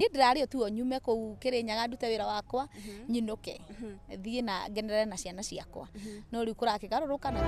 niĩ ndĩrarĩ ũtuo nyume kũu kĩrĩnyaga ndute wĩra wakwa nyinũke thiĩ na ngenere na ciana ciakwa no rĩu kũrakĩgarũrũka na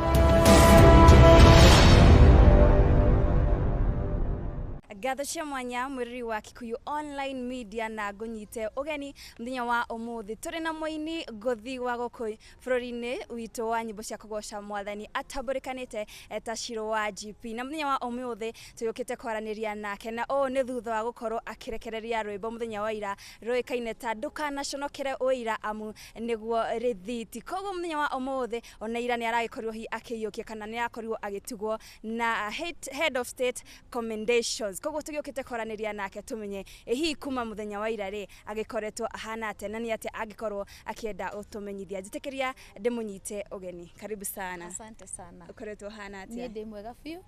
ngatho cia mwanya mwĩrĩri wa kikuyu online media na ngũnyite ũgeni mũthenya wa ũmũthĩ tũrĩ na mũini ngũthi wa gũkũ Bũrũri-inĩ witũ wa nyĩmbo cia kũgoca mwathani atambũrĩkanĩte ta Shiro wa GP, na mũthenya wa ũmũthĩ tũyũkĩte kwaranĩria nake, na ũũ nĩ thutha wa gũkorwo akĩrekereria rwĩmbo mũthenya wa ira rũĩkaine ta ndũkanaconokere ũira amu nĩguo rĩthiti. Koguo mũthenya wa ũmũthĩ ona ira nĩ aragĩkorirwo hihi akĩiyũkia kana nĩ arakorirwo agĩtugwo na head of state commendations. Koguo tũgĩũkĩte kwaranĩria nake tũmenye ĩ hihi kuma mũthenya wa ira rĩ agĩkoretwo ahana atĩa na nĩ atĩa angĩkorwo akĩenda ũtũmenyithia njĩtĩkĩria ndĩmũnyite ũgeni karibu sana asante sana ũkoretwo hana niĩ atĩa ndĩ mwega biũ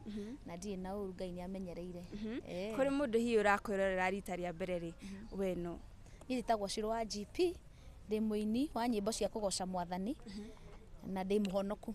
na ndirĩ na ũru ngai nĩ amenyereire Eh. kũrĩ mũndũ hihi ũrakwĩrorera rita rĩa mbere rĩ we nũ niĩ njĩtagwo ciro wa gp ndĩ mũini wa nyĩmbo cia kũgoca mwathani na ndĩ mũhonoku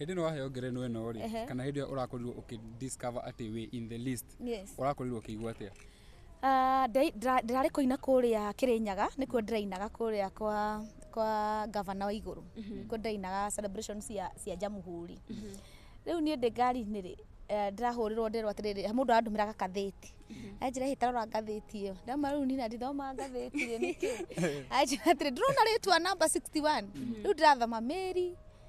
hĩndĩ ĩno waheo ngerenwa ĩno rĩ Ehe. kana hĩndĩ ĩyo ũrakorirwo ũkĩ discover atĩ wĩ in the list Yes. ũrakorirwo ũkĩigua atĩa Ah, ndĩ- ndĩra- ndĩrarĩ kũina kũrĩa kĩrĩnyaga nĩkuo ndĩrainaga kũrĩa kwa kwa gavana wa igũrũ nĩkuo ndĩrainaga celebration cia cia njamuhuri rĩu niĩ ndĩ ngari-inĩ rĩ eh, ndĩrahũrĩrwo nderwo atĩrĩrĩ mũndũ arandũmĩra gakathĩti anjĩra hĩ tarora ngathĩti ĩyo ndama rĩu nina ndithoma ngathĩti rĩ nĩkĩ anjĩra atĩrĩ ndĩrona rĩtwa namba 61 rĩu ndĩrathoma mĩri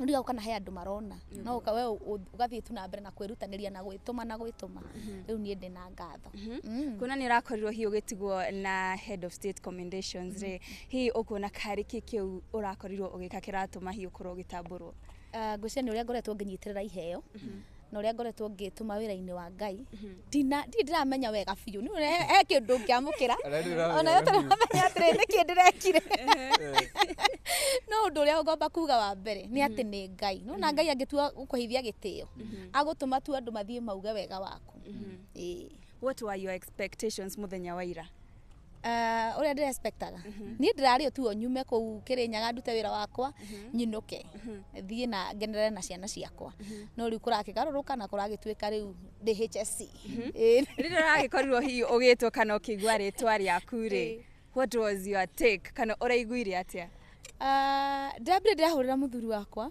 ndiga kana he andå marona no ũka- we ũ- ũ- ũgathiĩ tu na mbere na kwĩrutanĩria na gwĩtũma na gwĩtũma rĩu niĩ ndĩ na ngatho Mm. kuona nä å rakorirwo hihi å gä tigwo na head of state commendations rä hihi å kuona karä kä kä u å rakorirwo å gä ka kä ratå ma hihi å korwo å gä tambå rwo Ah, ngwĩciria nĩ ũrĩa ngoretwo ngĩnyitĩrĩra iheo na ũrĩa ngoretwo ngĩtũma wĩra-inĩ wa ngai ndina ndirĩ ndĩramenya wega biũ nĩ ũrĩa he kĩndũ ngĩamũkĩra Ona rĩu ũramenya ona yo wega biũ. tũramenya atĩrĩ nĩ kĩ ndĩrekire no ũndũ ũrĩa ngomba kuga wa mbere nĩ atĩ nĩ ngai no na ngai angĩtua gũkũheithia gĩtĩo agũtũma tu andũ mathiĩ mauge wega waku Ĩĩ. what were your expectations mũthenya wa ira Ah, ũrĩa ndĩ respectaga niĩ ndĩrarĩ tu o nyume kũu kĩrĩnyaga ndute wĩra wakwa nyinũke thiĩ na ngenere na ciana ciakwa no rĩu kũrakĩgarũrũka na kũragĩtuĩka rĩu ndĩ HSC Ĩĩ. rĩrĩa ũragĩkorirwo hihi ũgĩtwo kana ũkĩigua rĩtwa rĩaku rĩ Ĩĩ. what was your take kana ũraiguire atĩa Ah, ndambire ndĩrahũrĩra mũthuri wakwa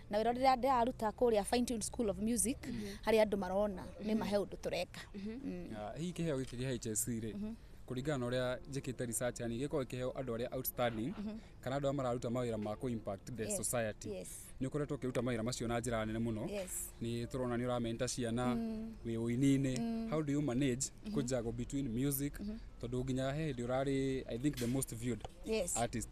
na wä rä a ndäraruta kå rä a Fine Tune School of music harä a andå marona nä mahe å ndå tå reka Mm. Ah, hihi kĩheo gĩkĩ gĩa HSC rĩ kũringana na ũrĩa njĩkĩte research yani gĩkorwo kĩheo andũ arĩa outstanding kana andũ arĩa mararuta mawĩra ma kũ impact the Yes, society yes. nĩ ũkoretwo ũkĩruta mawĩra macio na njĩra nene mũno Yes. nĩ tũrona nĩ ũramenta ciana wĩ ũini-inĩ how do you manage kũjago between music tondũ nginya he hĩndĩ ũrarĩ i think the most viewed Yes. artist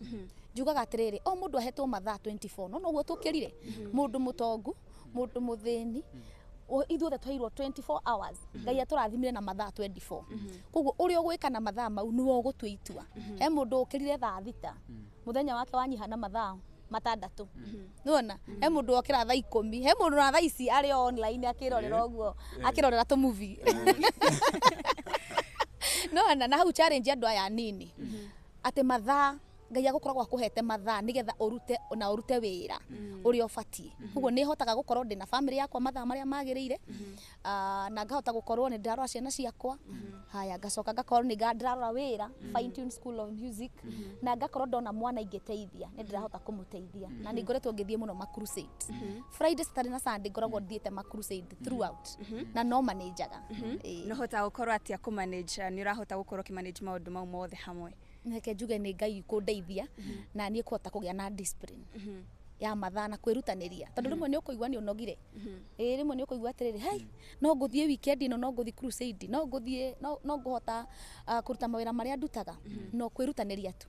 Mhm. njugaga atiriri o mundu ahetwo mathaa 24 no noguo tukirire mhm. mundu mutongu mundu muthini mhm. ithuothe twairwo 24 hours ngai aturathimire na mathaa 24 koguo uri ugwika na mathaa mau niwe ugutua itua he mundu ukirire thaa thita muthenya wake wanyiha na mathaa matandatu nona he mundu okira thaa ikumi he mundu na thaa ici ari online akirorera eh. uguo eh. akirorera tu movie eh. nona na hau challenge andu aya nini atĩ mathaa ngai agũkoragwo akũhete mathaa nĩgetha ũrute na ũrute wĩra ũrĩa ũbatiĩ koguo nĩ hotaga gũkorwo ndĩna bamĩrĩ yakwa mathaa marĩa magĩrĩire Ah, na ngahota gũkorwo nĩ ndĩrarora ciana ciakwa haya ngacoka ngakorwo nĩ nga- ndĩrarora wĩra fine tune school of music na ngakorwo ndona mwana ingĩteithia nĩ ndĩrahota kũmũteithia na nĩ ngoretwo ngĩthiĩ mũno ma crusade friday saturday na sunday ngoragwo thiĩte ma crusade Mhm. throughout mhm. na no manajaga mhm. eh. no hota gukorwo atia ku manage eh, ni urahota gukorwo ki manage maundu mau mothe hamwe reke njuge ni ngai kundeithia na ni kuhota kugia na discipline ya mathaa na kwirutaniria tondu rimwe ni ukuigua ni unogire eh rimwe ni ukuigua atiriri hai no nguthie weekend ino no nguthie crusade no nguthie no nguhota ah, kuruta mawira maria ndutaga no kwirutaniria tu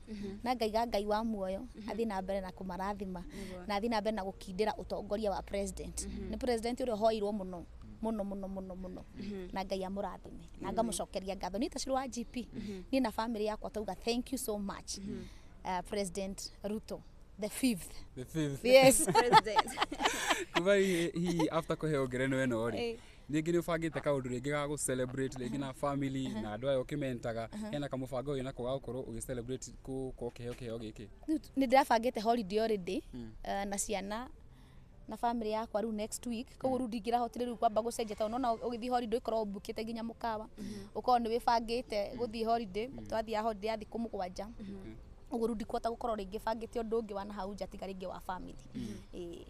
na ngaiga ngai wa muoyo athiĩ na mbere na kũmarathima na athiĩ na mbere na gũkindĩra ũtongoria wa president nĩ president ũrĩa ũhoirwo mũno mũno mũno mũno mũno na ngai amũrathime na ngamũcokeria ngatho niĩ ta ciro wa gp niĩ na bamĩrĩ yakwa tauga thank you so much uh, president ruto the fifth The fifth. yes President. kuma hihi hihi after kũheo ngerenwa ĩno rĩ Eh. rĩngĩ nĩ ũbangĩte kaũndũ rĩngĩ ga gũ celebrate rĩngĩ na family na andũ aya ũkĩmentaga hena kamũbango wĩ nako ga gũkorwo ũgĩ celebrate gũkorwo kĩheo kĩheo gĩkĩ Rĩu t- nĩ ndĩrabangĩte holiday already eh, na ciana na family yakwa rĩu next week koguo rĩu ndingĩrahotire rĩu kwamba gũcenjia tondũ nona ũgĩthiĩ holiday ũkorwo ũmbukĩte nginya mũkawa ũkorwo nĩ wĩbangĩte gũthiĩ holiday twathiaga holiday ya thikũ mũgwanja ũguo rĩu ndikuhota gũkorwo rĩngĩ bangĩte ũndũ ũngĩ wa na hau nja tiga rĩngĩ wa family Ĩĩ.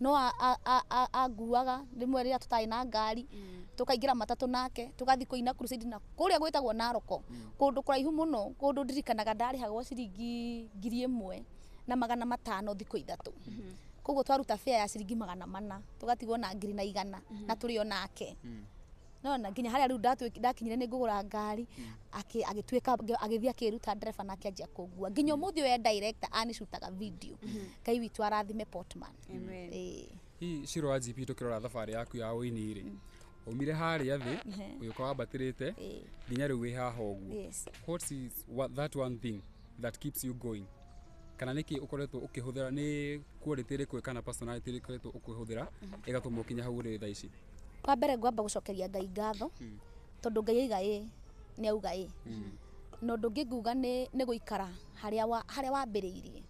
no anguaga rĩmwe rĩrĩa tũtarĩ na ngari tũkaingĩra matatũ nake tũgathiĩ kũina crusade na kũrĩa gwĩtagwo Naroko kũndũ kũraihu mũno kũndũ ndirikanaga ndarĩhagwo ciringi ngiri ĩmwe na magana matano thikũ ithatũ koguo twaruta fare ya ciringi magana mana tũgatigwo na ngiri na igana na tũrĩ o nake. nona nginya harĩa rĩu ndatwĩ- ndakinyire nĩ ngũgũra ngari akĩ- agĩtuĩka ngĩ- agĩthiĩ akĩruta ndereba na akĩanjia kũngua nginya ũmũthĩ ũyũ e director anicutaga video ngai witũ arathime potman Amen. Ĩĩ. hihi ciro wa gp tũkĩrora thabarĩ yaku ya ũini rĩ umire harĩa thĩ ũgĩũka wambatĩrĩte Ĩĩ. nginya rĩu wĩ haha ũguo Yes. what is what, that one thing that keeps you going kana nä kä ukoretwo å kä hå thä ra nä quality ĩrĩkũ kana personality ĩrĩkũ ĩkoretwo å kä hå thä ra ĩgatũma å kinya hau å rä thaa ici wa mbere ngwamba gũcokeria ngai ngatho tondũ ngai aiga ĩ nĩ auga ĩ na ũndũ ũngĩ nguga nĩ nĩ gũikara harĩa wa- harĩa wambĩrĩirie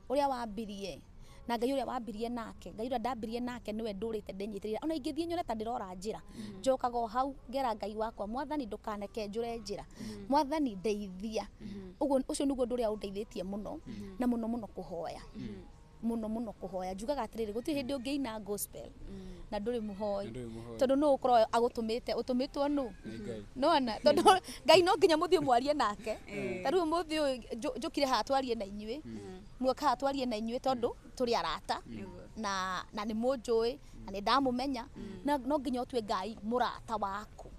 ũrĩa wambirie na ngai ũrĩa wambirie nake ngai ũrĩa ndambirie nake nĩwe ndũrĩte ndĩnyitĩrĩra ona ingĩthiĩ nyone ta ndĩrora njĩra njokaga o hau ngera ngai wakwa mwathani ndũkaneke njũre njĩra mwathani ndeithia ũguo ũcio nĩguo ũndũ ũrĩa ũndeithĩtie mũno na mũno mũno kũhoya mũno mũno kũhoya njugaga atĩrĩrĩ gũtirĩ hĩndĩ ũngĩina gospel na ndũrĩ mũhoi Na ndũrĩ mũhoi. tondå no å korwo agåtåmĩte å tå mä two nå Nĩ Ngai. nona tondå ngai no nginya må thiä mwarie nake ta rä u må thä å njå kire haha twarie na inyuä muokaga twarie na inyuĩ tondũ tũrĩ arata na na nĩ mũnjũĩ na nĩ ndamũmenya na no nginya ũtue ngai mũrata waku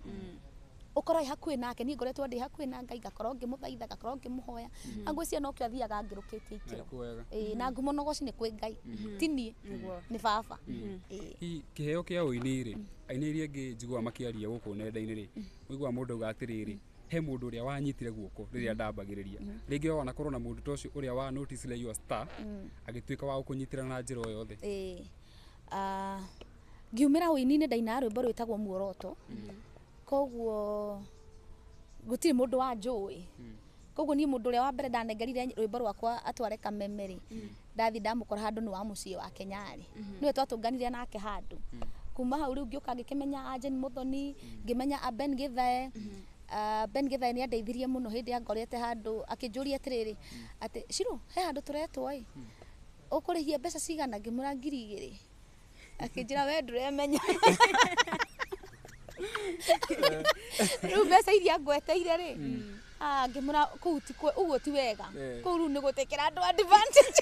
ũkorwo ĩ hakuhĩ nake niĩ ngoretwo ndĩ hakuhĩ na ngai ngakorwo ngĩmũthaitha ngakorwo ngĩmũhoya na ngwĩciria no kĩo athiaga ngĩrũkĩtie ikĩro Nĩkuo wega. Ĩĩ, na ngumo na ũgoci nĩ kwĩ ngai ti niĩ nĩ baba Ĩĩ. hihi kĩheo kĩa ũini rĩ aini iria ingĩ njiguaga makĩaria gũkũ nenda-inĩ rĩ ũiguaga mũndũ auga atĩrĩrĩ he mundu uria wanyitire guoko riria ndambagiriria ringi ona korwo na mundu tocio uria wa notice le your star agituika wa gukunyitira na njira o yothe eh ah ngiumira uini-ini ndainaga rwimbo rwitagwo muoroto koguo gutiri mundu wanjui koguo nie mundu uria wa mbere ndanengerire rwimbo rwakwa atware kameme ri ndathi ndamũkora handũ nĩ wa mũciĩ wake nyarĩ nĩwe twatũnganire nake handũ kuma hau rĩu ngĩũka ngĩkĩmenya Anjen Mũthoni ngĩmenya a Ben Gĩthae Ah, Ben Gĩthae nĩ andeithirie mũno hĩndĩ ya ngorete handũ akĩnjũria atĩrĩrĩ atĩ Shiro he handũ tũretwo ĩ ũkũrĩhia mbeca cigana ngĩmwĩra ngiri igĩrĩ akĩnjĩra we ndũremenya rĩu mbeca iria ngweteire rĩ ah, ngĩmũra kũu ti kwe- ũguo ti wega Eh. kũu rĩu nĩ gũtekera andũ advantage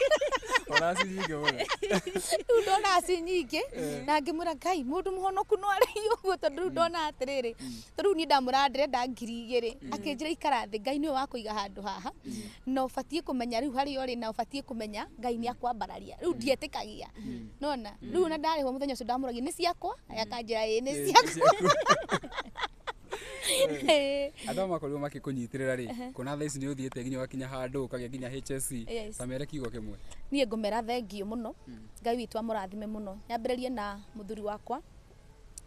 Ũraci nyingĩ mũno. rĩu ndona aci nyingĩ na ngĩmũra ngai mũndũ mũhonoku no arĩ ũguo tondũ rĩu ndona atĩrĩrĩ ta rĩu niĩ ndamũra ndĩrenda ngiri igĩrĩ akĩnjĩra ikara thĩ ngai nĩwe wakũiga handũ haha na ũbatiĩ kũmenya rĩu harĩa ũrĩ na ũbatiĩ kũmenya ngai nĩ akwambararia rĩu ndietĩkagia nona rĩu ona ndarĩhwo mũthenya ũcio ndamũragia nĩ ciakwa akanjĩra ĩĩ nĩ ciakwa Ĩĩ. andå makorirwo makä kå nyitä rä ra rä kuona thaa ici nä å thiä te nginya wakinya handå å kagä nginya HSC. Yes. ta mere kiugo kä mwe niä ngå mera thengiå må no ngai witå amå rathime må no nyambä rä rie na må thuri wakwa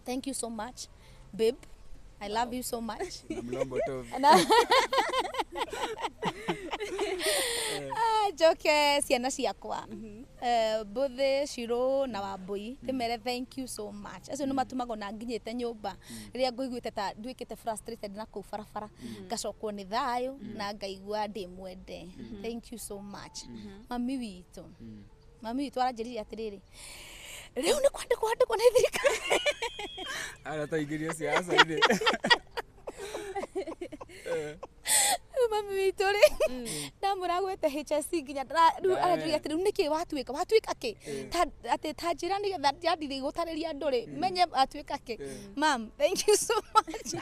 thank you so much babe i love you so much Na mlombo tu. Na- Ah, njoke ciana ciakwa Eh, mbũthĩ cirũ na wambũi ndĩmere thank you so much acio nĩ matumagwo na nginyĩte nyũmba rĩrĩa ngũiguĩte ta nduĩkĩte frustrated na kũu barabara ngacokwo nĩ thayũ na ngaigua ndĩ mwende thank you so much mami witũ mami witũ aranjĩrire atĩrĩrĩ rĩu nĩ kwandĩkwo andĩkwo nĩ thirikari ara taingĩria siasa-inĩ rĩu mami witũ rĩ ndamũragwĩte HSC nginya ndara- rĩu Eh. aranjĩrire atĩrĩ rĩu nĩkĩ watuĩka watuĩka kĩ Ta- atĩ ta njĩra nĩgetha njandirie gũtarĩria andũ rĩ menye atuĩka kĩ mam thank you so much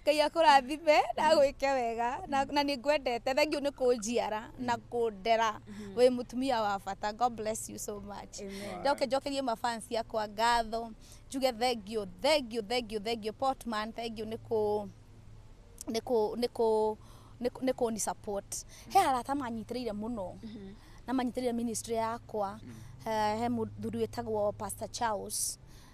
ngai akũrathime na agwĩke wega na na nĩ ngwendete thengiũ nĩ kũnjiara na kũndera mhm. wĩ mutumia wa bata god bless you so much ndoke njokerie mafans yakwa ngatho njuge thengio thengio thengio thengio portman thengio nä kå nä kå nä kå nä kå ni support he arata manyitĩrĩire mũno mhm. na manyitĩrĩire ministry yakwa mhm. eh, he mũthuri wĩtagwo pastor charles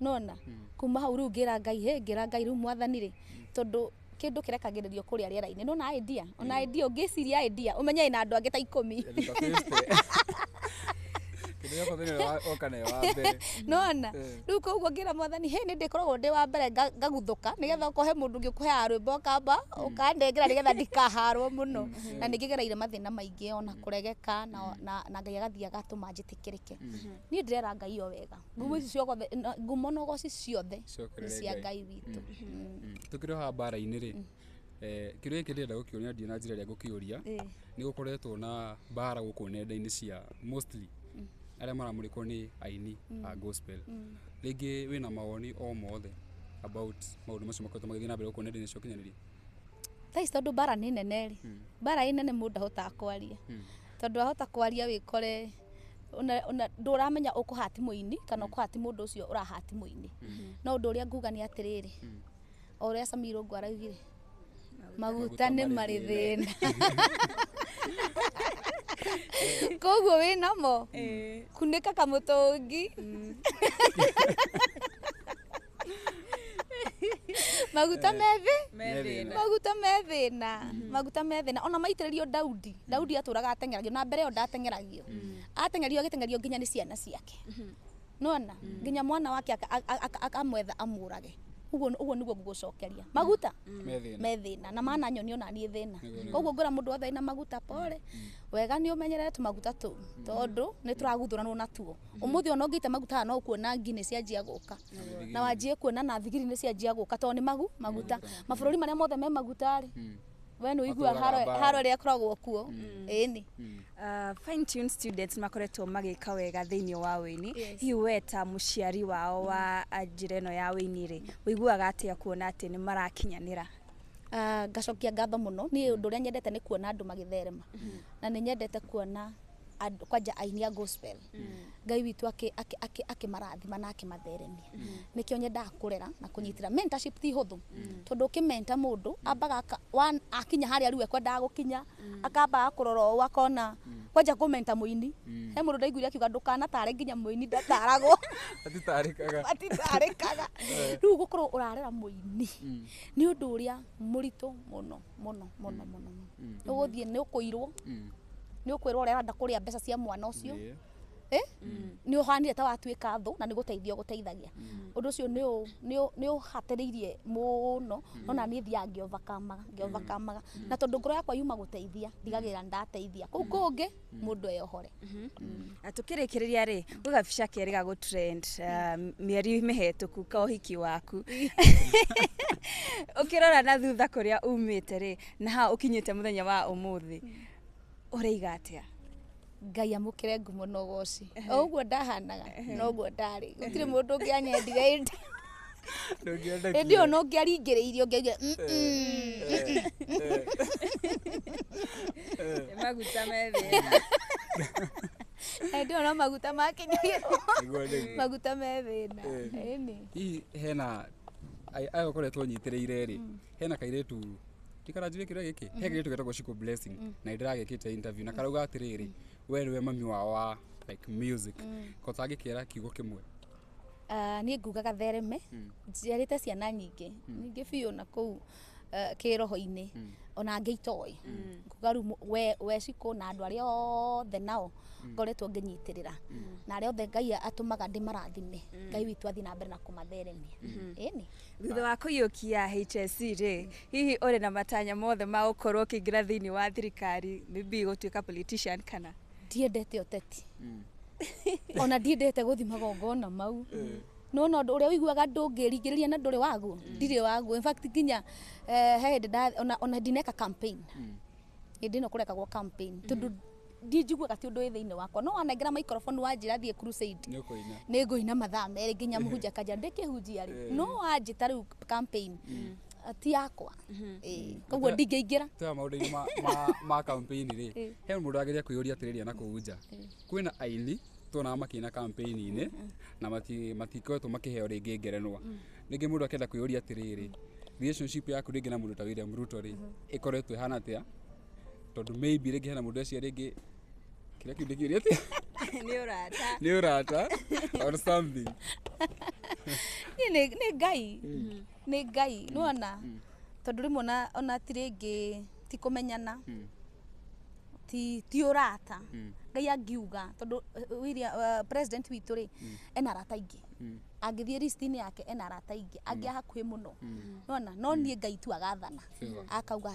nona kuma hau rĩu ngĩra ngai hĩ ngĩra ngai rĩu mwathani rĩ tondũ kĩndũ kĩrekagĩrĩrio kũrĩa rĩera-inĩ nona idea ona idea ũngĩciria idea ũmenye ĩna andũ angĩ ta ikũmi kĩndũ gĩakwa thĩinĩ wa oka nayo wa mbere nona Eh. rĩu koguo ngĩra mwathani hĩ nĩ ndĩkoragwo ndĩ wa mbere nga- ngaguthũka nĩgetha okorwo he mũndũ ũngĩ ũkũheaga rwĩmbo kamba ũkandengera nĩgetha ndikaharwo mũno na nĩ ngĩgereire mathĩna maingĩ ona kũregeka na- na na ngai agathiĩ agatũma njĩtĩkĩrĩke niä ndä rera ngai o wega ngumo ici ciogothe na- ngumo na ũgoci ciothe nĩ Ciokerere cia Ngai. ngai witũ Mm. tũkĩroha mbara-inĩ rĩ eh, kĩrĩa gĩkĩ ndĩrenda gũkĩonia ndiũna njĩra ĩrĩa ngũkĩũria Ĩĩ. nĩ gũkoretwo na mbara gũkũ nenda-inĩ cia mostly arĩa maramũrĩkwo nĩ aini a gospel rĩngĩ wĩna mawoni o mothe about maũndũ macio makoretwo magĩthiĩ na mbere gũkũ nenda-inĩ cia ũkinyanĩria thaa ici tondå mbara nä nene rä mbara ä nene må ndå ndahotaga kwaria tondå ahota kwaria wä kore ona ona ndũramenya ũkũhati mũini kana ũkũhati mũndũ ũcio ũrahati mũini no ũndũ ũrĩa nguga nĩ atĩrĩrĩ o ũrĩa samiro ngu araugire maguta nĩ marĩ thĩna koguo wĩ namo kunĩka kamũtũngi maguta methĩ Methĩna. maguta methĩna maguta methĩna ona maitĩrĩrio daudi daudi atũraga ateng'eragio na mbere ĩyo ndateng'eragio ateng'erio agĩteng'erio nginya nĩ ciana ciake nona nginya mwana wake aka- aka- aka- akamwetha amũrage ũguo ũguo nĩguo ngũgũcokeria maguta Methĩna. me thĩna na mana nyoni ona niĩ thĩna koguo ngwĩra mũndũ wothe wĩna maguta pole wega nĩ ũmenyerere tũmaguta tũu tondũ nĩ tũraguthũranwo natuo umuthi ona ungite maguta no kuona ngi ni cianjia guka na wanjie kuona na thigiri ni cianjia guka to ni magu maguta mabururi maria mothe me maguta ri we ni uigua haro ria koragwo kuo ini Uh, fine tune students makoretwo magika wega thiini wa wini yes. hihi we ta muciari wao wa njira ino ya wini ri wiguaga atia kuona ati ni marakinyanira Ah, ngacokia ngatho muno ni undu uria nyendete ni kuona andu magitherema na ni nyendete kuona and- kwanja aini a gospel ngai witũ akĩ- akĩ- akĩ- akĩmarathima na akĩmatheremia nĩkĩo nyendaga kũrera na kũnyitĩra mentorship ti hũthũ tondũ ũkĩmenta mũndũ ambaga aka- wa- akinya harĩa rĩu ekwendaga gũkinya akambaga kũrora ũũ akona kwanja kũmenta mũini he mũndũ ndaiguire akiuga ndũkanatare nginya mũini ndataragwo atitarĩkaga atitarĩkaga rĩu gũkorwo ũrarera mũini nĩ ũndũ ũrĩa mũritũ mũno mũno mũno mũno mũno Mm. nĩ ũgũthiĩ nĩ ũkũirwo Mm. nĩ ũkwĩrwo ũrĩa ũrenda kũrĩa mbeca cia mwana ũcio Yeah. Eh? nĩ ũhanire ta watuĩka thũ na nĩ gũteithia ũgũteithagia ũndũ ũcio nĩ ũ- nĩ ũ- nĩ ũhatĩrĩirie mũno no na niĩ thiaga ngĩovakamaga ngĩovakamaga na tondũ ngoro yakwa yuma gũteithia ndigagĩrĩra nĩ ndateithia kũu kũngĩ mũndũ eyohore na tũkĩrĩkĩrĩria rĩ gwĩ gabica kerĩ ga gå trend uh, mĩeri mĩhetũku ka ũhiki waku ũkĩrora na thutha kũrĩa umĩte rĩ na ha ũkinyĩte mũthenya wa ũmũthĩ ũrĩiga atĩa ngai amũkĩre ngumo na ũgoci o ũguo ndahanaga noguo ndarĩ gũtirĩ mũndũ ũngĩ anyendire ĩndĩ Ndũngĩenda ĩndĩ kinya. ona ũngĩaringĩrĩirie ũngĩaigire "Mm, mm, mm, mm." Nĩ maguta me thĩna ĩndĩ ona maguta makinyagĩrwo Nĩguo nĩguo. maguta me thĩna Eh. ĩni hihi hena ai- aya ũkoretwo ũnyitĩrĩire rĩ hena kairĩtu ndikaranjire kĩrĩa gĩkĩ he kairĩtu getagwo Shiko blessing na nĩ ndĩragĩkĩte interview na karauga atĩrĩrĩ we nĩwe mami wao wa like music ko tangĩkĩra kiugo kĩmwe Ah, niĩ nguga gathereme njiarĩte ciana nyingĩ nyingĩ biũ na kũu eh, kĩroho-inĩ ona angĩ itoĩ nguga rĩu mũ- we- we cikũ na andũ arĩa othe nao ngoretwo ngĩnyitĩrĩra na arĩa othe ngai atũmaga ndĩmarathime ngai witũ athiĩ na mbere na kũmatheremia ĩni thutha wa kũiyũkia HSC rĩ hihi ũrĩ na matanya mothe ma gũkorwo ũkĩingĩra thĩinĩ wa thirikari maybe gũtuĩka politician kana ndiendete ũteti ona ndiendete gũthi magongona mau no no ũrĩa ũiguaga ndũngĩringĩrĩria na ndũrĩ waguo ndirĩ waguo in fact nginya eh, he hĩndĩ nda- ona- ona ndineka campaign hĩndĩ ĩno kũrekagwo campaign tondũ ndi njiguaga ti ũndũ wĩ thĩinĩ wakwa no wanengera maikoroboni wanjĩra thiĩ crusade nä å kå ina nä ngå ina mathaa merä nginya må hunja kanja ndä kä hunjia rä no wanjä ta rä u campaign ti yakwa mhm. eh, koguo ndingĩingĩra twa maũndũ-inĩ ma kampĩini rĩ eh. he mũndũ ageria kwĩyũria atĩrĩria na kũu nja eh. kwĩna aini tuonaga makĩina kampĩini-inĩ mm-hmm. na matikoretwo makĩheo rĩngĩ ngerenwa mm. rĩngĩ mũndũ akenda kwĩyũria atĩrĩrĩ relationship yaku rĩngĩ na mũndũ ta William Ruto rĩ mm-hmm. ĩkoretwo ĩhana atĩa tondũ maybe rĩngĩ hena mũndũ ecia rĩngĩ kĩrĩa kĩu ndĩkĩũria atĩa nĩ ũrata nĩ ũrata or something nĩ ngai mm. mm-hmm. nĩ ngai nĩwona tondũ rĩmwe ona- ona ti rĩngĩ ti kũmenyana ti ti ũrata ngai angiuga tondũ uh, William, uh, president witũ rĩ ena arata aingĩ angĩthiĩ listinĩ yake ena arata aingĩ angĩ a hakuhĩ mũno nona no niĩ ngai tu agathana akauga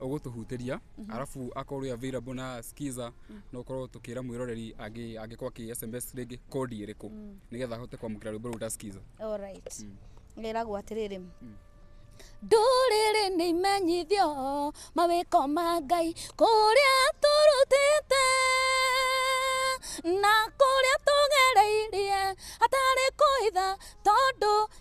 ũgũtũhutĩria mm -hmm. arabu akorwo ĩ available na skiza mm -hmm. no ũkorwo tũkĩra mwĩroreri angĩkorwo akĩ sms rĩngĩ kodi ĩrĩkũ mm -hmm. nĩgetha ahote kwamũkĩra rwĩmbo rũu ta skiza all right mm -hmm. ĩragwo atĩrĩrĩ mm -hmm ndũrĩrĩ nĩ imenyithio mawĩko ma ngai kũrĩa tũrutĩte na kũrĩa tũgereirie hatarĩ kũitha tondũ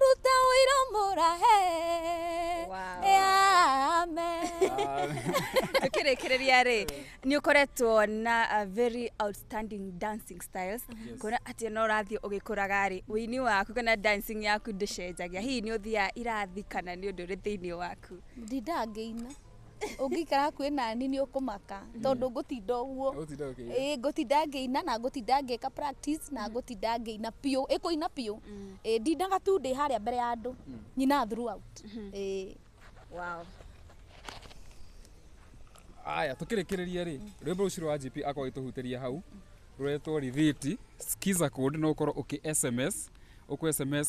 ruta ũira mũrahe tukirikiriria ri ni ukoretwo na a very outstanding dancing styles kuona ati no urathie ugikuraga ri wini waku kana dancing yaku ndicenjagia hihi ni uthia irathi kana ni undu ri thiini waku ndinda ngĩina ũngĩikara hakuhĩ nani nĩ ũkũmaka tondũ ngũtinda ũguo Ũgũtinda ũkĩina. Ĩĩ, ngũtinda ngĩina na ngũtinda ngĩka practice na ngũtinda ngĩina biũ ĩkũina biũ Ĩĩ, ndindaga tu ndĩ harĩa mbere ya andũ nyina throughout Ĩĩ. wow. aya tũkĩrĩkĩrĩria rĩ rwĩmbo rũcio rwa gp akorwo itũhutĩria hau rũretwo rithiti skiza code no ũkorwo ũkĩ sms ũkũ sms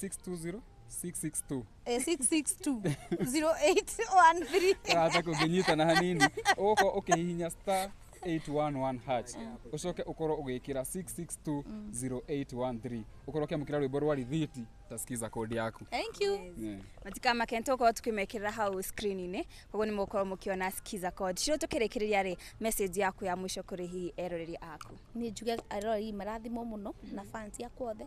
620 662 Eh, 662 0813 ũrata kũngĩnyita na hanini ũgũkorwo ũkĩhihinya star 811 hash ũcoke ũkorwo ũgĩkĩra 662013 ũkorwo ũkĩamũkĩra rwĩmbo rwa rithiti tasikiza kodi yaku thank you Yeah. matikamake nĩ tũgũkorwo tũkĩmekĩrĩra hau screen-inĩ koguo nĩ mũgũkorwo mũkĩona skiza code ciro tũkĩrĩkĩrĩria rĩ message yaku ya mũico kũrĩ hihi eroreri aku nä njuge aroreri marathimwo må no na fans akwa othe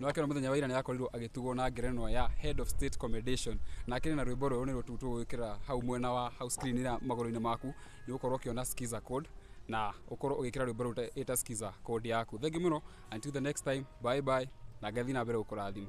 nĩ wakĩona mũthenya wa ira nĩ akorirwo agĩtugwo na ngerenwa ya head of state commendation na akĩrĩ na rwĩmbo rũrũ nĩ rũtu tũgwĩkĩra hau mwena wa hau screen ira magũrũ-inĩ maku nĩ ũkorwo ũkĩona skiza code na ũkorwo ũgĩkĩra rwĩmbo rũu ta- ĩta skiza code yaku thengi mũno until the next time bye bye na ngathiĩ na mbere gũkũrathima